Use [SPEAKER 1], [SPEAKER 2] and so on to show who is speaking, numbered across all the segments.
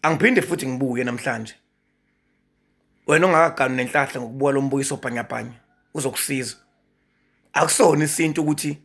[SPEAKER 1] angiphinde futhi ngibuye namhlanje wena ongakaganu nenhlahla ngokubuka lo mbukiso bhanyabhanya uzokusiza akusona isintu ukuthi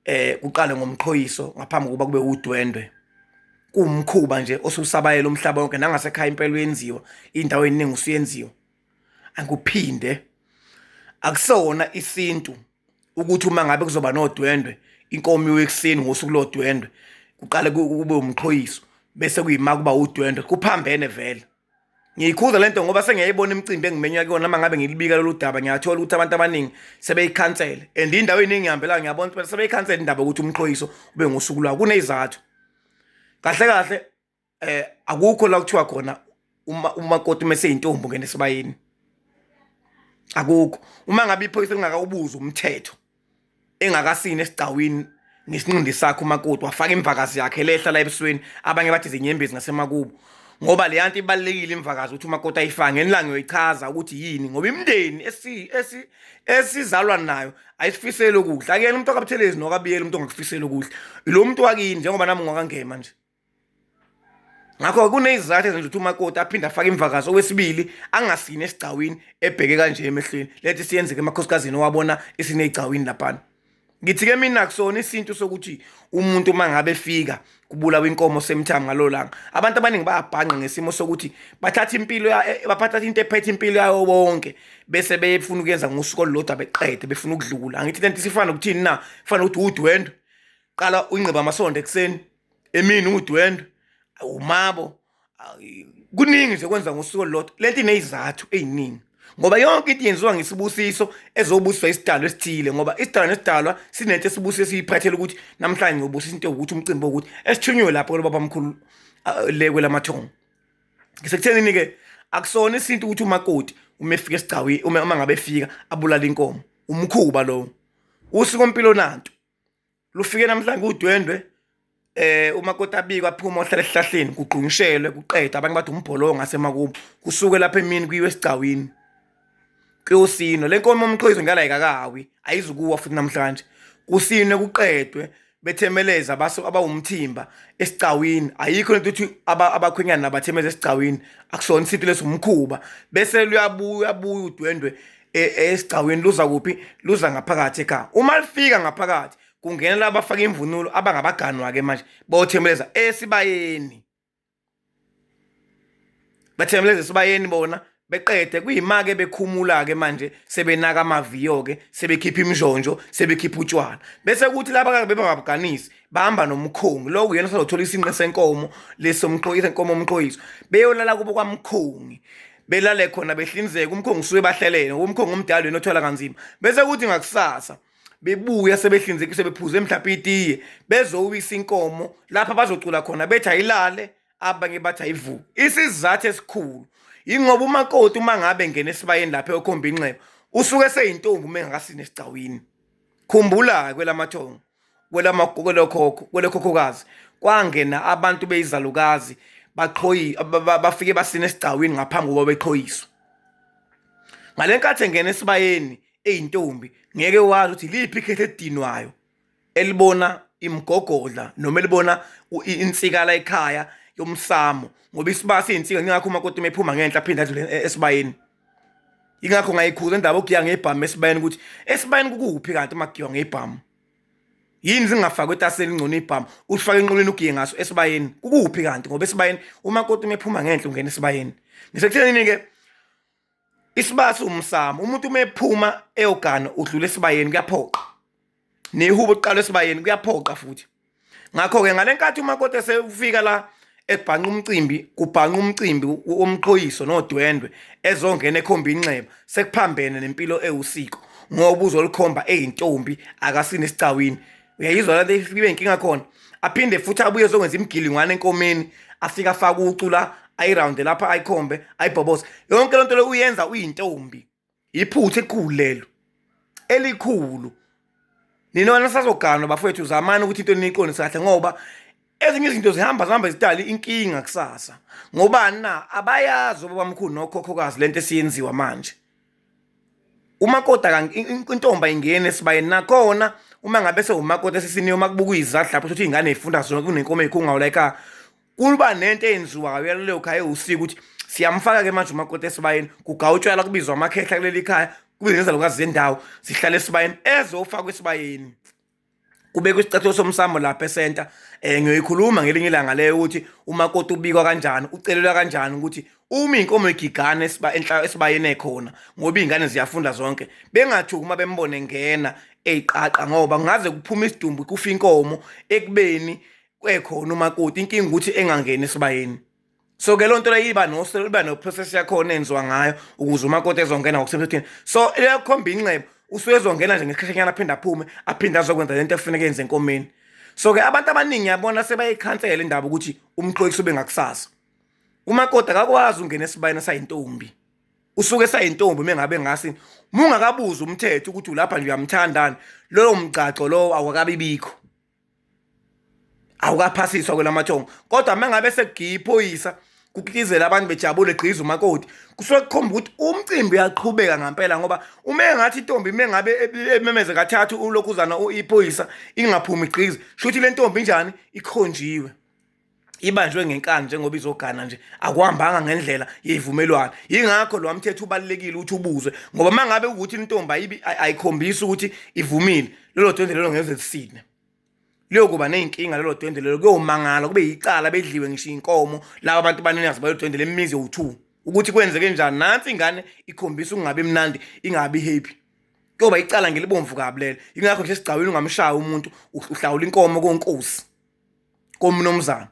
[SPEAKER 1] eh kuqale ngomqhoyiso ngaphambi kokuba kube udwendwe kumkhuba nje osusabayela umhlaba wonke nangasekhaya impela uyenziwa indawo eningi usuyenziwa angikuphinde akusona isintu ukuthi uma ngabe kuzoba nodwendwe inkomo iwe ekuseni ngosuku lodwendwe kuqale kube umqhoyiso bese kuyima kuba udwendwe kuphambene vele ngiyikhuza lento ngoba sengiyayibona imicimbi engimenywa kuyona uma ngabe ngilibika lolu daba ngiyathola ukuthi abantu abaningi sebeyikhansele and indawo eningi ngihambelayo ngiyabona ukuthi sebeyikhansele indaba yokuthi umqhoyiso ube ngosuku lwawo kunezathu kahle kahle eh akukho la kuthiwa khona uma umakoti uma seyintombi ngene sibayini akukho uma ngabe iphoyisa lingakawubuza umthetho engakasini esigcawini nesinqindi sakhe umakoti wafaka imvakazi yakhe lehla la ebusweni abanye bathi zinyembezi ngasemakubo ngoba le yanto ibalekile imvakazi ukuthi umakoti ayifake ngenilanga uyoyichaza ukuthi yini ngoba imndeni esi esi esizalwa nayo ayisifisele ukudla akuyena umuntu okabuthelezi nokabiyela umuntu ongakufisele ukudla lo muntu wakini njengoba nami ngwakangema nje ngakho kunezizathu ezenza ukuthi umakoti aphinde afake imvakazi okwesibili angasini esigcawini ebheke kanje emehlweni lethi siyenzeke emakhosikazini owabona isinegcawini laphana ngithi-ke mina kusona isintu sokuthi umuntu uma ngabe efika kubulawa inkomo semthanga ngalo langa abantu abaningi bayabhanqa ngesimo sokuthi bathatha impilo e, bathatha into ephethe impilo yayo bonke bese befuna ukuyenza ngosuku olulodwa beqede befuna ukudlula angithi lento isifana nokuthini na kufanele ukuthi udwendwe qala uyinqeba amasondo ekuseni emini udwendwe awumabo kuningi nje kwenza ngosuku olulodwa lento ineyizathu eziningi ngoba yonke into yenziwa ngesibusiso ezobusiswa isidalwa esithile ngoba isidalwa nesidalwa sinento esibusiso esiyiphathela ukuthi namhlanje ngiyobusisa into yokuthi umcimbi wokuthi esithunywe lapho kule babamkhulu le kwelamathongo ngisekuthenini-ke akusona isintu ukuthi umakoti uma efika esigcawi uma ngabe efika abulala inkomo umkhuba lowo usiko mpilo nanto lufike namhlanje udwendwe eh uma kota abikwa phuma ohlala esihlahleni kugqungishelwe kuqeda abanye bathi umbholongo ngasemakubo kusuke lapha emini kuyiwe esigcawini kuyosino lenkomo umqhoyizo ngala ikakawi ayizukuwa futhi namhlanje kusine kuqedwe bethemeleza baso abawumthimba esigcawini ayikho lento ukuthi abakhwenyana nabathemeza esigcawini akusona isintu lesomkhuba bese luyabuya uyabuya udwendwe e, e, esigcawini luza kuphi luza ngaphakathi ekhaya uma lifika ngaphakathi kungena laba abafaka imvunulo abangabaganwa-ke manje bothembeleza esibayeni bathembeleza esibayeni bona beqede kuyimake bekhumula-ke manje sebenaka amaviyo-ke sebekhipha imishonjo sebekhipha utshwala bese kuthi laba kake bebangabuganisi bahamba nomkhongi loku yena sazothola isinqe senkomo lesomqoyiso nkomo omqoyiso beyolala kubo kwamkhongi belale khona behlinzeka umkhongo usuke bahlelene umkhongo omdala wena othwala kanzima bese kuthi ngakusasa bebuya sebehlinzeka sebephuze mhlawumbe itiye bezowisa inkomo lapha bazocula khona bethi ayilale abanye bathi ayivuke isizathu esikhulu yingoba umakoti uma ngabe ngena esibayeni lapha eyokhomba inxeba usuke seyintombi uma engakasini esigcawini khumbula-ke kwelamathongo kwelamakhokho kwelekhokhokazi kwangena abantu beyizalukazi baqhoyi bafike basina esigcawini ngaphambi kokuba beqhoyiswe ngale nkathi engena esibayeni eyintombi ngeke wazi ukuthi liphi ikhethe edinwayo elibona imgogodla noma elibona insikala ekhaya yomsamo ngoba isibaya siyinsika ngingakho umakoti uma ephuma ngenhla aphinde adlule e-, esibayeni ingakho ngayikhuza indaba okugiya ngebhamu esibayeni ukuthi esibayeni kukuphi kanti makugiwa ngebhamu yini zingafakwa etaseni ingcono ibhamu usifake enqolweni ugiye ngaso esibayeni kukuphi kanti ngoba esibayeni uma koti umephuma ngenhla ungena esibayeni ngisekuthenini-ke isibaya siwumsamo umuntu uma ephuma eyogana udlula esibayeni kuyaphoqa nehubo uqala esibayeni kuyaphoqa futhi ngakho-ke ngale nkathi umakoti esefika la ebhanqa umcimbi kubhanqa umcimbi womqhoyiso nodwendwe ezongena ekhomba inxeba sekuphambene nempilo ewusiko ngoba uzolikhomba eyintombi akasini esigcawini uyayizwa lento ibe inkinga khona aphinde futhi abuye ezokwenza imigilingwane enkomeni afike afake ucu la ayirawunde lapha ayikhombe ayibhoboze yonke lento le uyenza uyintombi yiphutha elikhulu lelo elikhulu nina wena sazoganwa bafowethu zamani ukuthi into niyiqondise kahle ngoba ezinye izinto zihamba zihamba zidala inkinga kusasa ngobani na abayazi obabamkhulu nokhokhokazi lento esiyenziwa manje umakota intomba ingene esibayeni nakhona uma ngabe sewumakoti esisiniyo uma kubuka izadla lapho ukuthi ingane ifunda zona kunenkomo eyikhungawu like kuba nento eyenziwayo yaleyo khaya ewusika ukuthi siyamfaka-ke manje umakoti esibayeni kugawutshwala kubizwa amakhehla kuleli khaya kube nezalukazi zendawo zihlala esibayeni ezofakwa esibayeni kubekwa isicathulo somsamo lapha esenta um eh, ngiyoyikhuluma ngelinye ilanga leyo ukuthi umakoti ubikwa kanjani ucelelwa kanjani ukuthi uma inkomo igigana esiba enhla esibayene khona ngoba izingane ziyafunda zonke bengathuki uma bembone ngena eyiqaqa ngoba ngaze kuphuma isidumbu kufa inkomo ekubeni kwekhona umakoti inkinga ukuthi engangeni esibayeni so ke lonto leyo iba no iba no process yakhona enziwa ngayo ukuze umakoti ezongena ngokusemthethweni so leyokhomba inxebo usuke ezongena nje ngesikhathanyana aphinde aphume aphinde azokwenza lento ekufuneka yenze enkomeni so ke abantu abaningi yabona sebayikhansela indaba ukuthi umxolisi ube ngakusasa umakoti akakwazi ungena esibayeni sayintombi usuke sayintombi mengabe ngasi mungakabuza umthetho ukuthi ulapha nje uyamthandani loyo mgcagco lowo awakabibikho awukaphasiswa kwelamathongo kodwa uma ngabe sekugiya iphoyisa kukitizela abantu bejabule gqiza umakoti kusuke kukhomba ukuthi umcimbi uyaqhubeka ngampela ngoba uma engathi intombi uma ngabe ememeze kathathu ulokhuzana iphoyisa ingaphumi gqiza shuthi le ntombi njani ikhonjiwe ibanjwe ngenkani njengoba izogana nje akuhambanga ngendlela yeyivumelwano yingakho lo mthetho ubalekile ukuthi ubuzwe ngoba mangabe ukuthi intombi ayibi ayikhombisa ukuthi ivumile lelo dwendwe lelo ngeze lisine liyokuba nezinkinga lelo dwendwe lelo kuyomangala kube yicala bedliwe ngisho inkomo laba abantu baninazi bayo dwendwe lemizi yowu2 ukuthi kwenzeke njani nansi ingane ikhombisa ukungabe mnandi ingabi happy kuyoba icala ngelibomvu kabi lelo ingakho nje sigcawini ungamshaya umuntu uhlawula inkomo konkosi komnumzana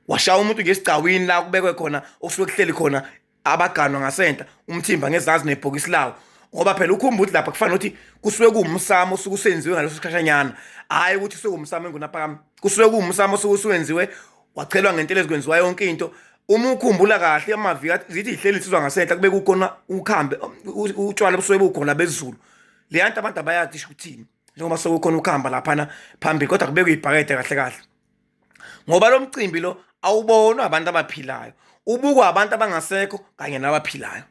[SPEAKER 1] washaya umuntu ngesigcawini la kubekwe khona okusuke kuhleli khona abaganwa ngasenta umthimba ngezazi nebhokisi lawo ngoba phela ukhumba ukuthi lapha kufanele ukuthi kusuke kuwumsamo osuke usenziwe ngaleso sikhashanyana hhayi ukuthi kusuke umsamo engunaphakami kusuke kuwumsamo osuke usuwenziwe wachelwa ngentela ezikwenziwa yonke into uma ukhumbula kahle amavika zithi ihleli insizwa ngasenhla kube kukhona ukhambe utshwala busuke bukhona bezulu leyanto abantu abayazi isho ukuthini njengoba sekukhona ukuhamba laphana phambili kodwa kubekwe ibhakede kahle kahle ngoba lo mcimbi lo awubonwa abantu abaphilayo ubukwa abantu abangasekho kanye nabaphilayo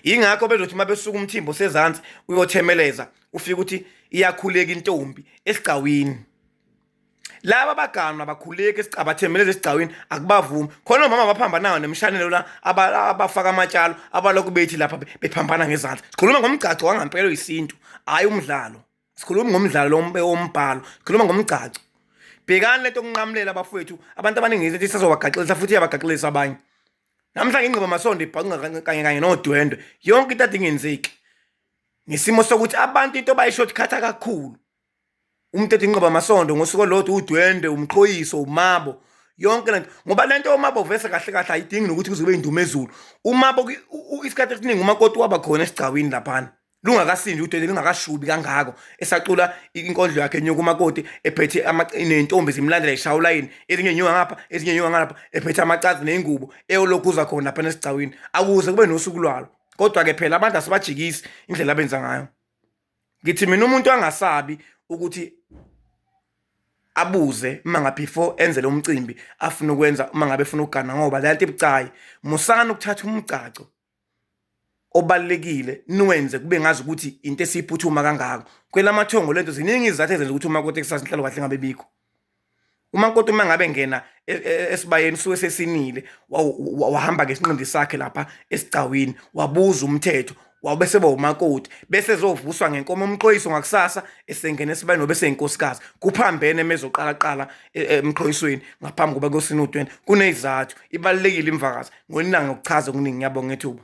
[SPEAKER 1] yingakho bezothi uma besuka umthimbo sezansi uyothemeleza ufike ukuthi iyakhuleka intombi esigcawini laba baganu abakhuleki esicabathembe lezi esigcawini akubavumi khona omama abaphambanayo nemishanelo la abafaka amatshalo abalokhu bethi lapha bephambana ngezandla sikhuluma ngomgcagco wangampelo yisintu hhayi umdlalo sikhuluma ngomdlalo wombhalo sikhuluma ngomgcagco bhekani lento okunqamulela abafowethu abantu abaningi izinto isazobagaxelisa futhi iyabagaxelisa abanye namhlanje ingqiba masondo ibhaqunga kanye kanye nodwendwe yonke into adingenzeki ngesimo sokuthi abantu into bayishortcut kakhulu umthetho inqoba amasondo ngosuku olodwa udwende umxhoyiso umabo yonke lento ngoba lento omabo vese kahle kahle ayidingi nokuthi kuzobe indume ezulu umabo isikhathi esiningi umakoti waba khona esigcawini laphana lungakasindi udwende lungakashubi kangako esacula inkondlo yakhe enyuka umakoti ephethe nentombi zimlandela ishawula yini ezinye nyuka ngapha ezinye nyuka ngalapha ephethe amacazi neyingubo eyolokhu uza khona laphana esigcawini akuze kube nosuku lwalo kodwa-ke phela abantu asibajikisi indlela abenza ngayo ngithi mina umuntu angasabi ukuthi abuze uma ngabe before enze lo mcimbi afuna ukwenza uma ngabe efuna ukugana ngoba le nto ibucayi musani ukuthatha umgcaco obalekile niwenze kube ngazi ukuthi into esiphuthuma kangako kwelamathongo lento ziningi izathu ezenza ukuthi uma kote kusasa inhlalo kahle ngabe bikho umakoti uma ngabe ngena e, e, esibayeni suke sesinile wahamba ngesinqindi sakhe lapha esigcawini wabuza umthetho wawube seba umakoti bese ezovuswa ngenkomo umxhoyiso ngakusasa esengena esibayeni nobe seyinkosikazi kuphambene emezoqala qala e, emxhoyisweni ngaphambi koba kosini u-20 kunezizathu ibalulekile imvakazi ngonilanga ukuchaza okuningi ngiyabonga ethuba